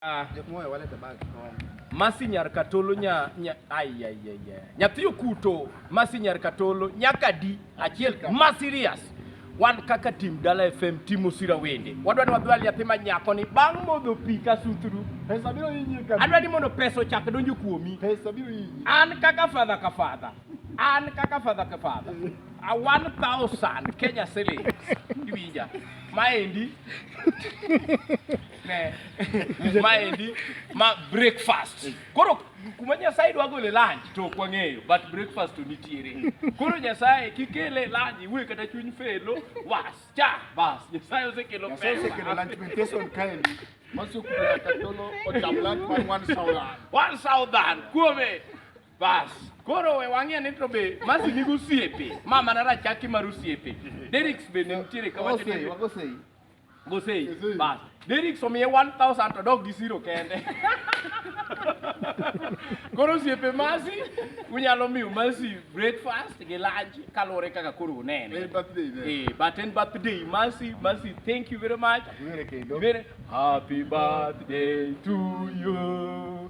Ah. Masi nyar katolo nya, nya ai ai ai. Nyathi okuto Masi nyar katolo nyaka di achiel ma serious. Wan kaka tim Dala FM timo sira wende. Wadwa ni wadwal nyathi ma nyako ni bang' modho pi ka sutru. Pesa biro yinyi kabisa. Adwa ni mondo pesa ochak donjo kuomi. Pesa biro yinyi. An kaka fadha ka fadha. An kaka fadha ka fadha. A 1000 Kenya shillings. Iwinja. Maendi Ne. Maendi ma breakfast. Koro kuma Nyasaye dwa gole lunch to ok wang'eyo but breakfast to nitiere. Koro Nyasaye kikele lunch iwe kata chuny felo was cha bas Nyasaye osekelo pesa. Nyasaye osekelo lunch meditation kaendi. Masu kula katolo ocham lunch man one thousand. One thousand kuome. Bas. Koro we wang'e ni to be masi nigo osiepe. Mama na rachaki mar osiepe. Derricks be ne nitiere kama. Wago sei, wago sei. Gosei. Gosei. Bas. Derrick somiye 1000 to dog gi zero kende. koro osiepe masi unyalo miyo masi breakfast gi lunch kaluwore kaka koro unene Eh, birthday ne. Eh, but en birthday masi masi thank you very much Were kendo. Very happy birthday to you